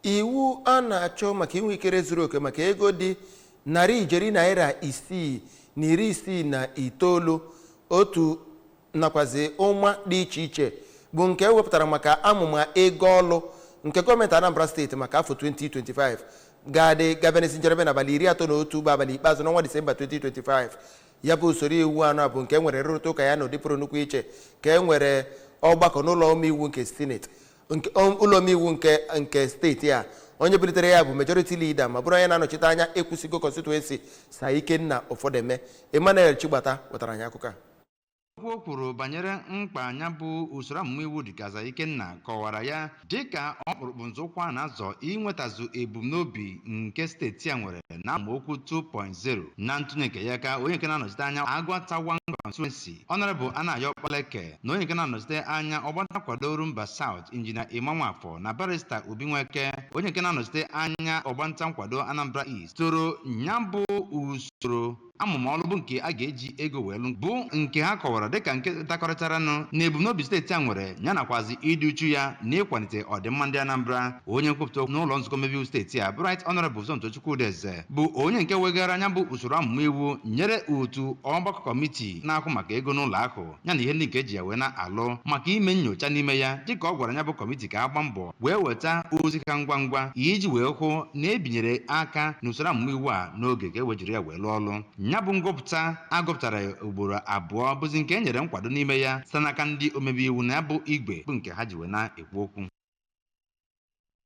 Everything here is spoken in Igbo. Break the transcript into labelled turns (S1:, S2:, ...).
S1: iwu a na-achọ maka inwe ikere zuru oke maka ego dị narị ijeri naira isii na iri isii na itoolu otu nakwazi ụma dị iche iche bụ nke ewepụtara maka amụma ego ọlụ nke gọọmenti anambra steeti maka afọ 2025 ga-adị ga-abịa n'isi njedebe n'abalị iri atọ na otu bụ abalị ikpeazụ n'ọnwa disemba 2025 ya bụ usoro iwu anụa bụ nke e nwere nrụrịta ụka ya na ụdị pụrụ nnukwu iche ka e nwere ọgbakọ n'ụlọ omeiwu nke sineti nke o- ụlọ omeiwu nke nke steeti a onye bulitere ya bụ majority leader ma bụrụ onye na-anọchite anya ekwusigo constituency sa ikenna ofodeme emmanuel chigbata wetara anyị akụkọ a Okwu o kwuru
S2: banyere mkpa nya bụ usoro amụma iwu dịga Sa Ikenna kọwara ya dịka ọkpụrụkpụ nzọụkwụ a na-azọ inwetazu ebumnobi nke steeti a nwere na amaokwu 2.0 na ntụnye nke ya ka onye nke na-anọchite anya Aguata One Constituency Honorable Anayo Okpaleke na onye nke na-anọchite anya ọgbanta nkwado Orumba South Injinia Emma Nwafọ na barista Obi Nweke onye nke na-anọchite anya ọgbanta nkwado Anambra East toro nya bụ usoro amụma ọlụ bụ nke a ga-eji ego wee lụ bụ nke ha kọwara dịka nke dakọrịtaranụ na ebumnobi steeti a nwere ya nakwazi ịdị uchu ya na ịkwalite ọdịmma ndị Anambra onye nkwupụta okwu n'ụlọ nzukọ omebe iwu steeti a bụ Right Honorable Somtochukwu Udeze bụ onye nke wegara nya bụ usoro amụma iwu nyere otu ọgbakọ kọmitii na-ahụ maka ego n'ụlọ ahụ ya na ihe ndị nke eji ya wee na-alụ maka ime nnyocha n'ime ya dịka ọ gwara nya bụ kọmitii ka a gbaa mbọ wee weta ozi ha ngwa ngwa iji wee hụ na ebinyere aka n'usoro amụma iwu a n'oge ka e wee jiri ya wee lụọ ọlụ ya bụ ngụpụta a gụpụtara ugboro abụọ bụzi nke e nyere nkwado n'ime ya site n'aka ndị omebe iwu na ya bụ igwe bụ nke ha ji wee na-ekwu okwu